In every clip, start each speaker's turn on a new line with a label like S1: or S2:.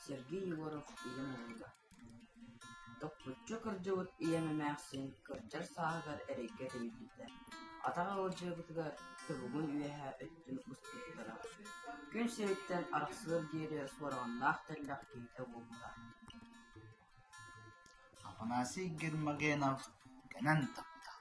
S1: Сергей Егоров ийэм уолуга Топпуччу кырдьыбыт ийэм эмээхсин кырдьар сааһыгар эрэйгэ тэнийбитэ, атах ыалдьыабытыгар субугун үөһэ өттүн устубуттара. Күн сириттэн арахсыар диэри суораҕыннаах тэллэх киһитэ буолбута Афанасий Гермогенов кэнэн тахта.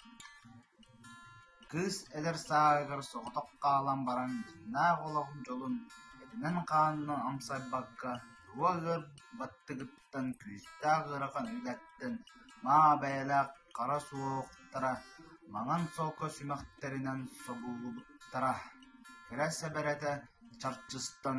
S1: Кыыс эдэр сааһыгар соҕотох хаалан баран дьиннээх олоҕун дьолун этинэн-хаанынан амсайбакка тула ыар баттыгыттан күүстээх ыарахан үлэттэн маа бэйэлээх хара суоһуктара маҥан солко сүмэхтэринэн собуллубуттара, кэрэ сэбэрэтэ чарчыстан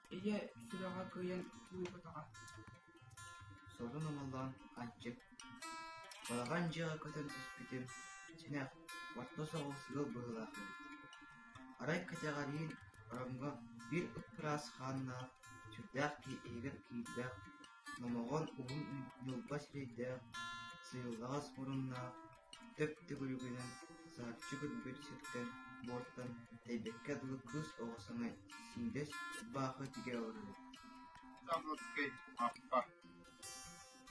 S1: Ийэ сүрэҕэ кыайан уурбатаҕа сорун умуллан андьык, балаҕан дьиэҕэ көтөн түспүтүм синэх, орто соҕус ыал быһыылаах эбит. Арай кэтэҕэлиин ороҥҥо биир ып-ыраас хааннаах, сүрдээх киһи иһигэр киирбэх Номоҕор уһун ньылбас өйдөөх, сыылҕаҕас муруннаах, төп төгүрүгүнэн сарчы көрбүт сиртэн буортан тэйбэккэ дылы кыыс оҕо саҥа сиҥдэс убаакы тигэ олорбут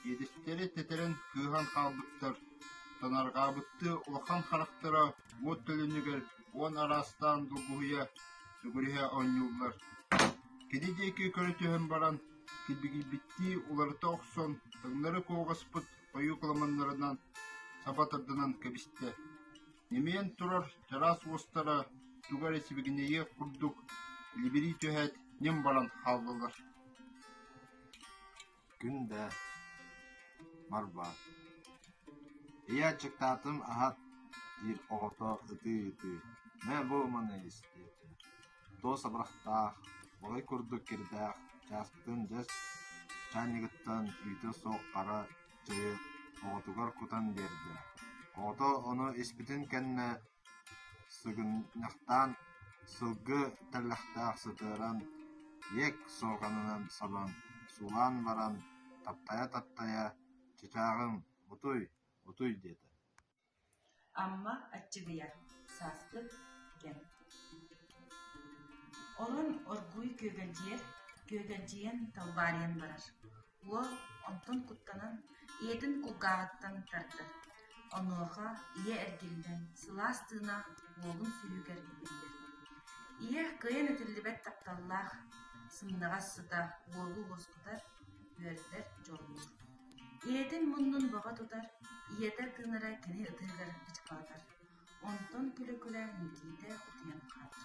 S1: Иэдэстэри тэтэрэн кыыһан хаалбыттар, танарҕаабыттыы улахан харахтара буот төлүнүгэр уон араастаан долгуһуйа, сүгүрүйэ оонньууллар. Кини диэки көрө түһэн баран килбигийбиттии уларыта охсон, таҥнары куоҕаспыт хойукламаннарынан саба тарданан кэбистэ. Ньимээн турар чараас уостара туга эрэ сибигинэйиэх курдук либирий түһээт ньим баран хааллылар Күн да Марбаат «Ыйааччыктаатым аһат» диир оҕото ытыы-ытыы «Мэ бу маны истиэ» Туос абырахтаах, балай курдук кирдээх, чааскытын дэс чаанньыгыттан үүтэ суох хара чэйи оҕотугар кутан биэрдэ, оҕото ону испитин кэннэ сыгынньахтаан, сылгы тэллэхтээх сытыаран, иэк суоканынан сабан, суулаан баран, таптайа-таптайа «Чычааҕым, утуй, утуй!» диэтэ Амма Аччыгыйа, сааскы кэм Онон оргууй күөгэлдьийэр, күөгэлдьийэн талбаарыйан барар. Уол онтон куттанан, ийэтин кулгааҕыттан тардар. Онуоха ийэ эргиллэн, сылаас тыына уолун сүһүгэр иһиллэр. Ийэ кыайан этиллибэт тапталлаах, сымнаҕас сыта уолу уоскутар, үөрдэр дьоллуур. Ийэтин муннун бөҕө тутар, ийэтэ тыынара кини ытыһыгар ыччаланар, онтон күлэ-күлэ Никиитэ утуйан хаалар